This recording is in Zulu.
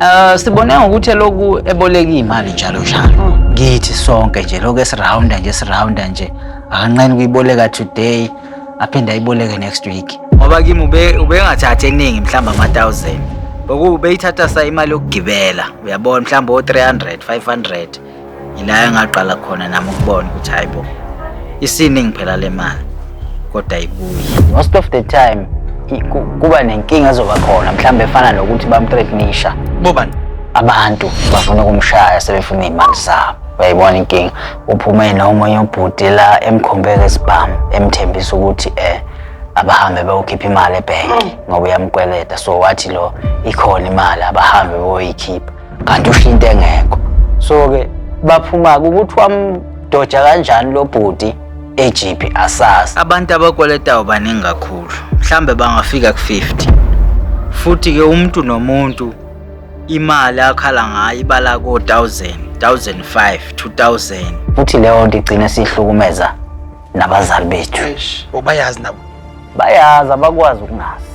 Eh sibone ngokuthi lokhu eboleka imali njalo njalo. Ngithi sonke nje lokho esirounda nje sirounda nje akanqeni kuyiboleka today aphinde ayiboleke next week. Ngoba kimi ube ubengathathi eningi mhlamba ama 1000. Boku beyithatha sa imali yokugibela. Uyabona mhlamba o 300 500. yila engaqala khona nami ukubona ukuthi hayi bo isiningi phela le mali kodwa ibuye most of the time kuba nenkinga ezoba khona mhlawumbe efana nokuthi bamthreatnisha bobani abantu bafuna ukumshaya sebefuna iy'mali zabo uyayibona inkinga uphume nomunye ubhuti la emkhombeka isibhamu emthembisa ukuthi um abahambe bayokhipha imali ebhenki ngoba uyamkweleta so wathi lo ikhona imali abahambe boyikhipha kanti usho into engekho so ke baphuma ukuthi wamdoja kanjani lo bhuti ejiphi asazi abantu abakweletayo baningi kakhulu mhlambe bangafika ku-50 futhi ke umuntu nomuntu imali akhala ngayo ibala ko-1000 1005 2000 futhi leyo nto igcine sihlukumeza nabazali bethu bayazi nabo bayazi abakwazi ukungazi